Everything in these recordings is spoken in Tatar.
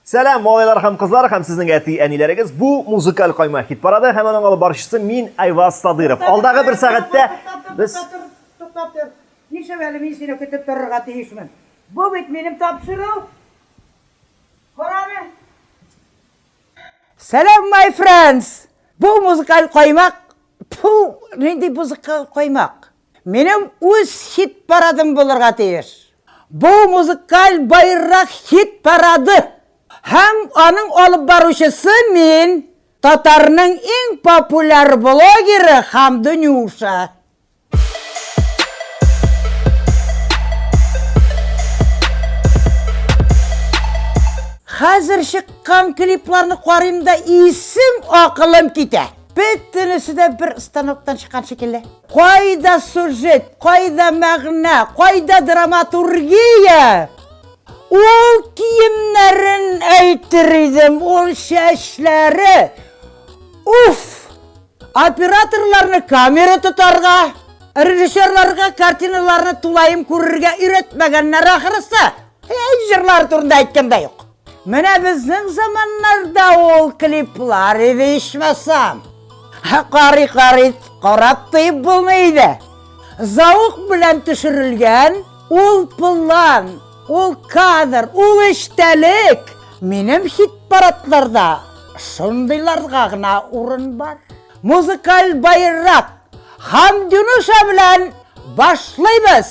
Сәлам, малайлар һәм кызлар һәм сезнең әти әниләрегез. Бу музыкаль кайма хит парады һәм аның алып баручысы мин Айваз Садыров. Алдагы бер сәгатьтә без туктап тор. Нишләп әле мин сине көтеп торырга тиешмен? Бу бит минем тапшыру. Караны. Сәлам, my friends! Бу музыкаль каймак. Пу, нинди музыкаль каймак? Минем үз хит-парадым булырга тиеш. Бу музыкаль байрак хит-парады. Һәм аның алып баручысы мин, татарның иң популяр блогеры Хамды Нюша. Хәзер чыккан клипларны карыйм да исем-акылым китә. Бөтенесе дә бер станоктан чыккан шикелле. Кайда сюжет, кайда мәгънә, кайда драматургия? Ул киемнәрен әйтер идем, ул чәчләре. Уф! Операторларны камера тотарга, режиссерларга картиналарны тулаем күрергә өйрәтмәгәннәр ахрысы. Әй, җырлар турында әйткән дә юк. Менә безнең заманнарда ул клиплар иде ичмасам. Карый карый карап тыеп булмый иде. Заук белән төшерелгән ул план, ул кадр, ул эчтәлек. Минем хит-парадларда шундыйларга гына урын бар. Музыкаль байрак Хамдюнуша белән башлыйбыз!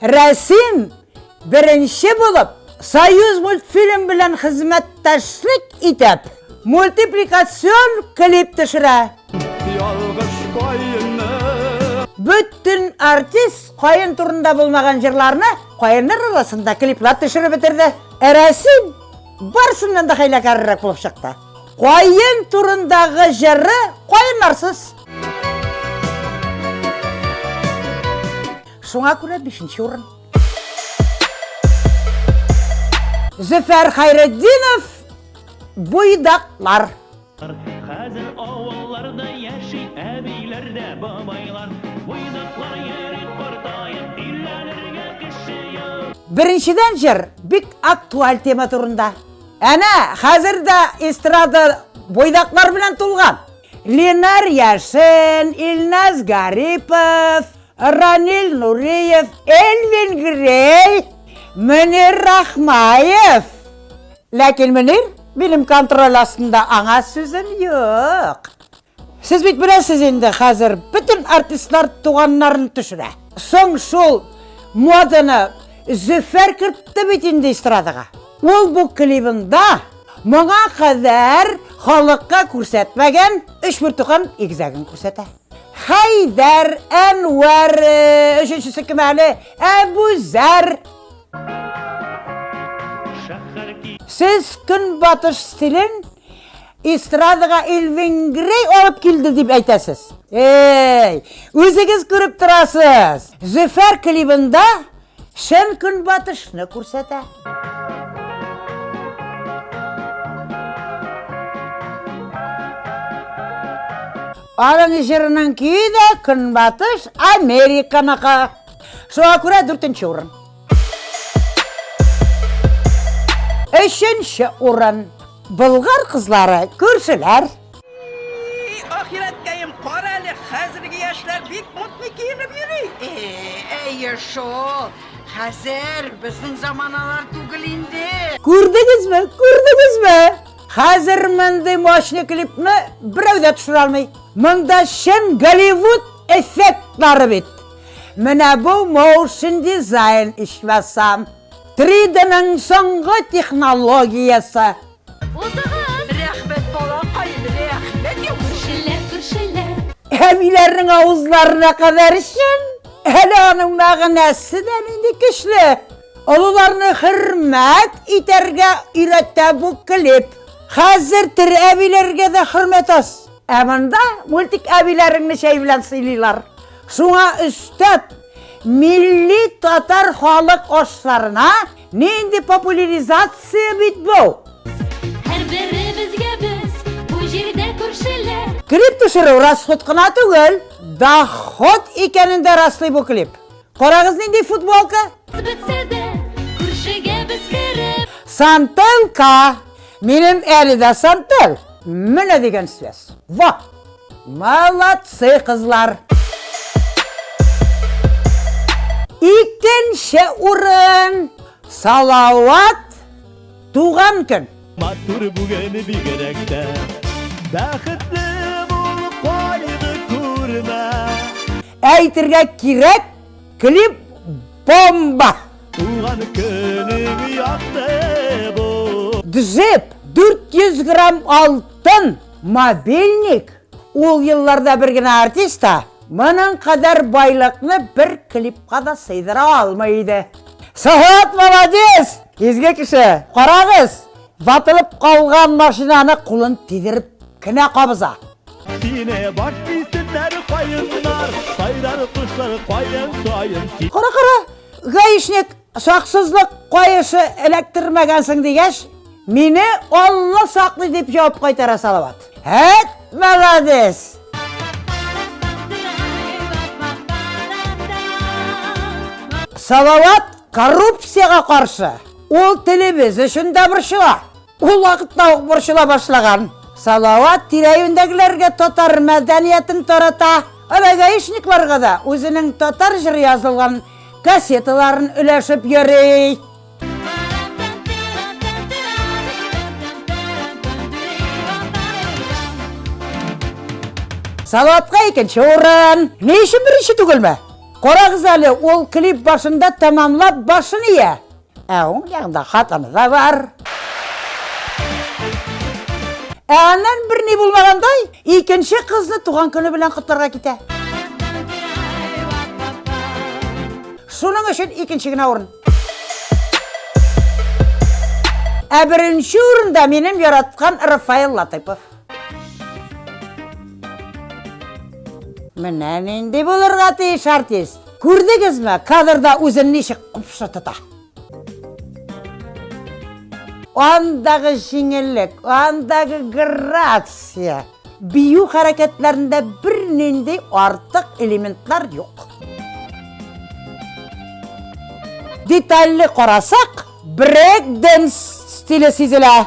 Рәсим, беренче булып, Союзмультфильм белән хезмәттәшлек итеп, мультипликацион клип төшерә. Ялгыш каенны. Бөтен артист каен турында булмаган җырларны каеннар арасында клиплар төшереп бетерде. Рәсим барсыннан да хәйләкәррәк булып чыкты. Каен турындагы җыры каеннарсыз. Шуңа күрә бишенче урын. Зөфәр Хайретдинов буйдаклар. Хәзер авылларда яши әбиләр дә бабайлар. Буйдаклар йөри картаеп, өйләнергә кеше юк. Беренчедән җыр бик актуаль тема турында. Әнә, хәзер дә эстрада буйдаклар белән тулган. Ленар Яшен, Илназ Гарипов, Ранил Нуриев, Элвин Грей, Мөнир Рахмаев. Ләкин Мөнир минем контроль астында аңа сүзем юк. Сез бит беләсез инде хәзер бөтен артистлар туганнарын төшерә. Соң шул моданы Зөфәр кертте бит инде эстрадаға. Ул бу клибында моңа кадәр халыкка күрсәтмәгән өч бертуган игезәген күрсәтә. Хәйдәр, Әнвәр, өченчесе кем әле? Әбүзәр. Сез көнбатыш стилен эстрадага Элвин Грей алып килде дип әйтәсез. Эй, үзегез күреп торасыз. Зөфәр клибында Чын көнбатышны күрсәтә. Аның җырының көе дә Көнбатыш Американыкы. Шуңа күрә дүртенче урын. Өченче урын. Болгар кызлары күршеләр. И-и-и, ахирәткәем, карале, хәзерге яшьләр бик модный киенеп йөри. Әйе шул, хәзер безнең заманалар түгел инде. Күрдегезме, күрдегезме? Хәзер мондый мощный клипны берәү дә төшерә алмый. Монда чын Голливуд эффектлары бит. Менә бу моушн дизайн ичмасам. 3D-ның соңгы технологиясе. Узыгыз! Рәхмәт, балакаем, рәхмәт, яхшылар! Күршеләр! Әбиләрнең авызларына кадәр чын. Әле аның мәгънәсе дә нинди көчле. Олыларны хөрмәт итәргә өйрәтә бу клип. Хәзер тере әбиләргә дә хөрмәт аз. Ә монда мультик әбиләреңне чәй белән сыйлыйлар. Шуңа өстәп, милли татар халык ашларына Нинди популяризация бит бу! Һәрберебезгә без бу җирдә күршеләр. Клип төшерү расход кына түгел, доход икәнен дә раслый бу клип. Карагыз нинди футболка! Бетсә дә, күршегә без кереп. Сантелька! Минем әле дә сантель! Менә дигән связь. Ва! Молодцы кызлар! Икенче урын! Салават туган көн! Матур бүген бигерәк тә Бәхетле бул кайгы күрмә Әйтергә кирәк, клип бомба! Туган көнең якты бу! Джип 400 грамм алтын! Мобильник ул елларда бер генә артист та моның кадәр байлыкны бер клипка да сыйдыра алмый иде. Саят молодец! Изге кеше! Карагыз! Ватылып калган машинаны кулын тидереп кенә кабыза. Сине баш исемнәр каеннар, сайрар кошлар каен саен. Кара-кара, гаишник! Саксызлык каешы эләктермәгәнсең дигәч, мине Алла саклый дип җавап кайтара Салават. Әт, молодец! Салават коррупцияга каршы. Ул телебез өчен дә борчыла. Ул вакытта ук борчыла башлаган. Салават тирәюендәгеләргә татар мәдәниятен тарата, ана гаишникларга да үзенең татар җыры язылган кассеталарын өләшеп йөри. Салаватка икенче урын. Ни өчен беренче түгелме? Карагыз әле, ул клип башында тәмамлап башын ия. Ә уң ягында хатыны да бар. Ә аннан берни булмагандай, икенче кызны туган көне белән котларга китә. Шуның өчен икенче генә урын. Ә беренче урында минем яраткан Рафаил Латыпов. Менә нинди булырга тиеш артист. Күрдегезме, кадрда үзен ничек купшы тота? Андагы җиңеллек, андагы грация, бию хәрәкәтләрендә бернинди артык элементлар юк. Детальле карасак, брейк-денс стиле сизелә.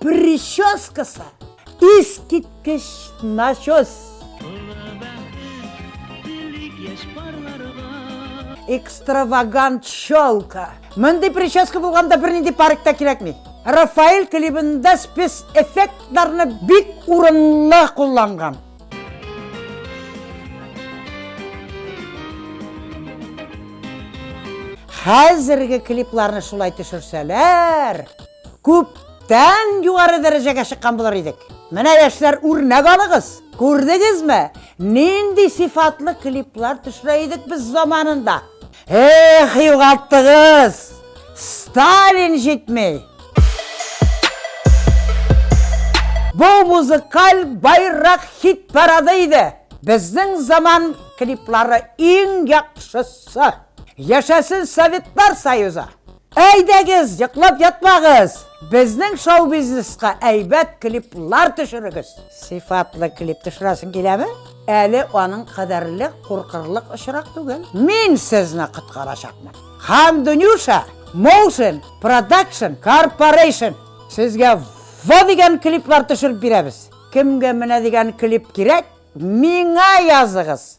Прическасы искиткеч начос. Экстравагант челка. Мондый прическа булганда бернинди парик та кирәкми. Рафаэль клибында спец эффектларны бик урынлы кулланган. Хәзерге клипларны шулай төшерсәләр, Күптән югары дәрәҗәгә чыккан булыр идек. Менә яшьләр үрнәк алыгыз. Күрдегезме, нинди сыйфатлы клиплар төшерә идек без заманында. Эх, югалттыгыз! Сталин җитми! Бу музыкаль байрак хит парады иде. Безнең заман клиплары иң яхшысы. Яшәсен Советлар Союзы! Әйдәгез, йоклап ятмагыз! Безнең шоу-бизнеска әйбәт клиплар төшерегез! Сыйфатлы клип төшерәсең киләме? Әле аның кадәрле куркырлык очрак түгел. Мин сезне коткарачакмын. Хандунюша Motion Production Corporation сезгә во дигән клиплар төшереп бирәбез. Кемгә менә дигән клип кирәк, миңа языгыз!